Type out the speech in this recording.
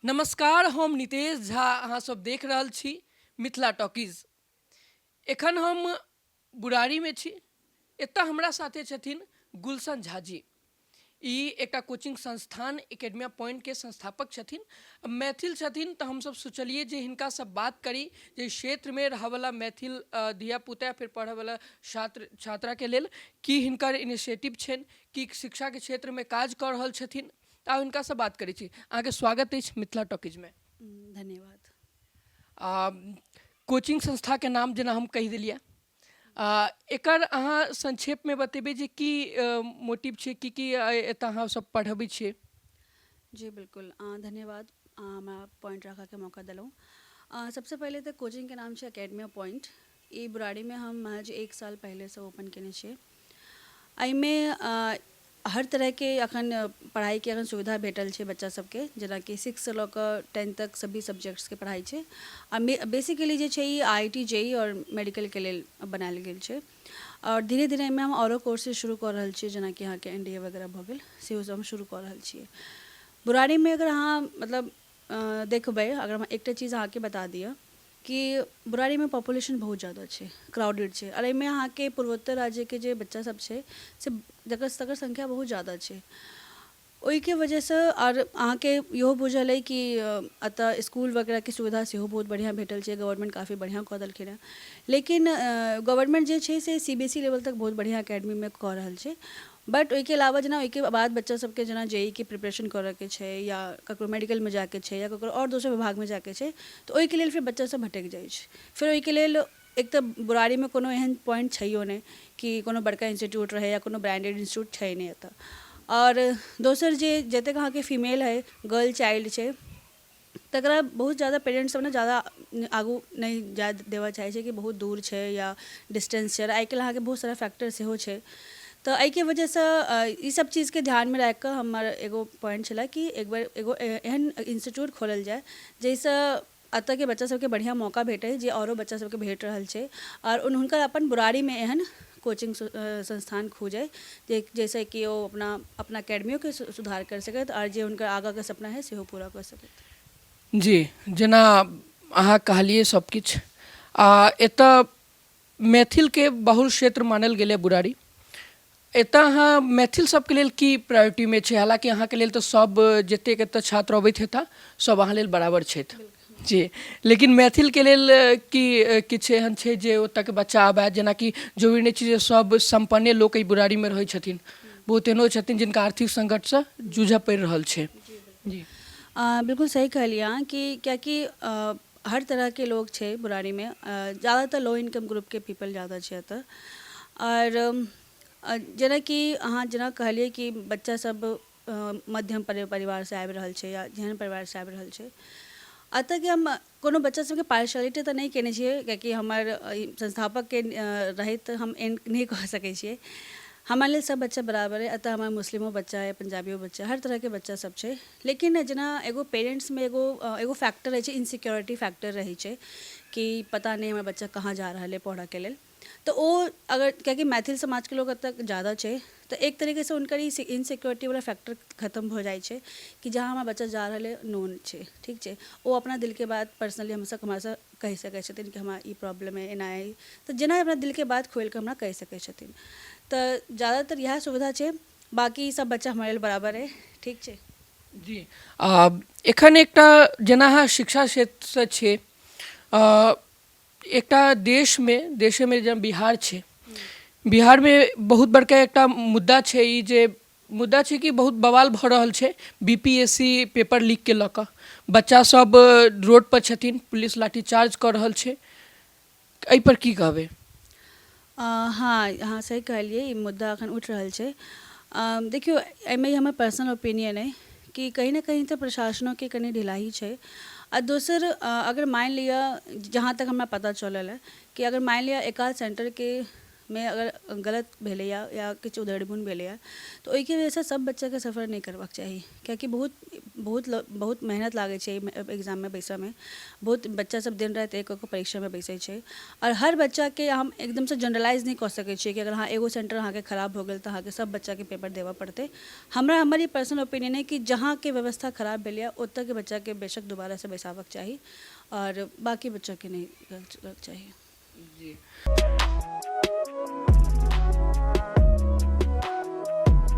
नमस्कार हम नितेश झा अहाँ सब देख रहल छी मिथिला टॉकीज एखन हम बुरारीमे छी एतऽ हमरा साथे छथिन गुलशन झा जी ई एकटा कोचिंग संस्थान एकेडमिया पॉइंटके संस्थापक छथिन मैथिल छथिन तऽ हमसब सोचलिए जे हिनकासँ बात करी जे क्षेत्रमे रहऽवला मैथिल धियापुता फेर पढ़ऽवला छात्र छात्राके लेल की हिनकर इनिशिएटिव छनि की शिक्षाके क्षेत्रमे काज कऽ रहल छथिन तऽ हुनकासँ बात करै छी अहाँके स्वागत अछि मिथिला टॉकीजमे धन्यवाद कोचिंग संस्थाके नाम जेना हम कहि देलियै एकर अहाँ संक्षेपमे बतेबै जे की मोटिव छै की की एतऽ अहाँ सब पढ़बै छियै जी बिल्कुल धन्यवाद हमरा पॉइंट राखऽके मौका देलहुँ सबसँ पहिले तऽ कोचिंगके नाम छै एकेडमी पॉइंट ई ब्राड़ी मे हम महज एक साल पहिले सँ ओपन केने छियै। अइ मे हर तरह के अखन पढ़ाई के अखन सुविधा भेटल छै बच्चा सब के जेना कि सिक्स सँ लऽ कऽ टेंथ तक सभी सब्जेक्ट्स के पढ़ाई छै। आ बेसिकली जे छै ई आईआईटी, जेईई आओर मेडिकल के लेल बनायल गेल छै। आओर धीरे धीरे अइ मे हम आओरो कोर्सेज शुरू कऽ रहल छियै जेना कि अहाँके एनडीए वगैरह भऽ गेल सेहो सब हम शुरू कऽ रहल छियै। बुराड़ी मे अगर अहाँ मतलब देखबै अगर हम एकटा चीज अहाँके बता दिअ। कि बुराड़ी मे पॉपुलेशन बहुत जादा छै क्राउडेड छै आओर एहिमे अहाँके पूर्वोत्तर राज्य के जे बच्चा सब छै से जकर तकर संख्या बहुत जादा छै ओहिके वजह सँ आओर अहाँके इहो बुझल अछि कि एतऽ इसकुल वगैरह के सुविधा सेहो बहुत बढ़िऑं भेटल छै गवर्नमेंट काफी बढ़िऑं कऽ देलखिन हँ लेकिन गवर्नमेंट जे छै से C B S E level तक बहुत बढ़िऑं एकेडमी मे कऽ रहल छै बट ओहिके अलावा जेना ओहिके बाद बच्चा सबके जेना जेई के प्रिपरेशन करऽके छै या ककरो मेडिकलमे जाइके छै या ककरो आओर दोसर विभागमे जाइके छै तऽ ओहिके लेल फेर बच्चा सब भटकि जाइ छै फेर ओहिके लेल एक तऽ बुराड़ीमे कोनो एहन पॉइंट छैहो नहि कि कोनो बड़का इन्स्टिच्यूट रहै या कोनो ब्रांडेड इन्स्टिच्यूट छै नहि एतऽ आओर दोसर जे जतेक अहाँके फीमेल अइ गर्ल चाइल्ड छै तकरा बहुत जादा पेरेन्ट्स सब ने जादा आगू नहि जाय देबऽ चाहै छै कि बहुत दूर छै या डिस्टेंस छै आओर आइ काल्हि अहाँके बहुत सारा फैक्टर सेहो छै तऽ अइके वजहसँ ई सब चीजके ध्यानमे राखिकऽ हमर एगो प्वाइंट छलै कि एक बेर एगो एहन इन्स्टिच्यूट खोलल जाइ जैसँ अतऽके बच्चा सबके बढ़िआँ मौका भेटै जे आओरो बच्चा सबके भेट रहल छै आओर हुनकर अपन बुराड़ीमे एहन कोचिंग संस्थान खोजय जइसँ कि ओ अपना अपना एकेडमियोके सुधार करि सकथि आर जे हुनकर आगाँके सपना हइ सेहो पूरा कऽ सकथि। जी जेना अहाँ कहलियै सब किछु आ एतऽ मैथिलके बहुल क्षेत्र मानल गेलैए बुराड़ी एतऽ अहाँ मैथिल सबके लेल की प्रायोरिटीमे छै हालाँकि अहाँके लेल तऽ सब जतेक एतऽ छात्र अबैत हेता सब अहाँ लेल बराबर छथि। जी लेकिन मैथिलके लेल कि किछु एहन छै जे ओतऽके बच्चा आबै जेनाकि जरूरी नहि छै जे सब सम्पन्ने लोक एहि बुढ़ारीमे रहै छथिन बहुत एहनो छथिन जिनका आर्थिक सङ्कटसँ जूझऽ पड़ि रहल छै जी अँ, बिल्कुल सही कहलियै अहाँ कि कियाकि अँ, हर तरहके लोग छै बुराड़ीमे अँ, ज्यादातर लो इनकम ग्रुपके पीपल ज्यादा छै एतऽ आओर अँ, जेनाकि अहाँ जेना कहलियै कि बच्चा सब मध्यम परिवारसँ आबि रहल छै या जेहन परिवारसँ आबि रहल छै एतऽ कि हम कोनो बच्चा सभके पार्शियलिटी तऽ नहि केने छियै किएकि हमर संस्थापकके रहैत हम एहन नहि कहि सकै छियै हमरा लेल सभ बच्चा बराबर अइ एतऽ हमर मुस्लिमो बच्चा अइ पञ्जाबियो बच्चा हर तरहके बच्चा सभ छै लेकिन जेना एगो पेरेन्ट्समे एगो एगो फैक्टर रहै छै इन्सिक्योरिटी फैक्टर रहै छै कि पता नहि हमर बच्चा कहाँ जा रहल अइ पढ़ऽके लेल तऽ ओ अगर कियाकि मैथिल समाजके लोक एतऽ ज्यादा छै तऽ एक तरीकेसँ हुनकर ई इनसिक्योरिटीवला फैक्टर खतम भऽ जाइ छै कि जहाँ हमर बच्चा जा रहल अइ नोन छै ठीक छै ओ अपना दिलके बात पर्सनली हमसब हमरासँ कहि सकै छथिन कि हमरा ई प्रॉब्लम अइ एना अइ तऽ जेना अपना दिलके बात खोलिकऽ हमरा कहि सकै छथिन तऽ ज्यादातर इएह सुविधा छै बाकी सब बच्चा हमरा लेल बराबर अइ ठीक छै जी आ एखन एकटा जेना अहाँ शिक्षा क्षेत्रसँ छी एकटा देशमे देशेमे जेना बिहार छै बिहारमे बहुत बड़का एकटा मुद्दा छै ई जे मुद्दा छै कि बहुत बवाल भऽ रहल छै B P S C paper लीकके लऽ कऽ बच्चा सब रोड पर छथिन पुलिस लाठी चार्ज कऽ रहल छै एहि पर की कहबै हँ अहाँ सही कहलिए ई मुद्दा एखन उठि रहल छै देखिऔ एहिमे ई हमर पर्सनल ओपिनिअन अइ कि कहीँ ने कहीँ तऽ प्रशासनोके कनि ढिलाइ छै आओर दोसर अगर मानि लिअ जहाँ तक हमरा पता चलल अइ कि अगर मानि लिअ एकाध सेन्टरके मे अगर गलत भेलैए या किछु उधेड़बुन भेलैए तऽ ओहिके वजहसँ सब बच्चाके सफर नहि करबाके चाही कियाकि बहुत बहुत बहुत मेहनत लागै छै एहिमे एग्जाममे बैसऽमे बहुत बच्चा सब दिन राति एक कऽ कऽ परीक्षामे बैसै छै आओर हर बच्चाके हम एकदमसँ जनरलाइज नहि कऽ सकै छियै कि अगर अहाँ एगो सेन्टर अहाँके खराब भऽ गेल तऽ अहाँके सब बच्चाके पेपर देबऽ पड़तै हमरा हमर ई पर्सनल ओपिनियन अइ कि जहाँके व्यवस्था खराब भेल यऽ ओतऽके बच्चाके बेशक दोबारासँ बैसाबऽके चाही आओर बाँकी बच्चाके नहि करऽके चाही जी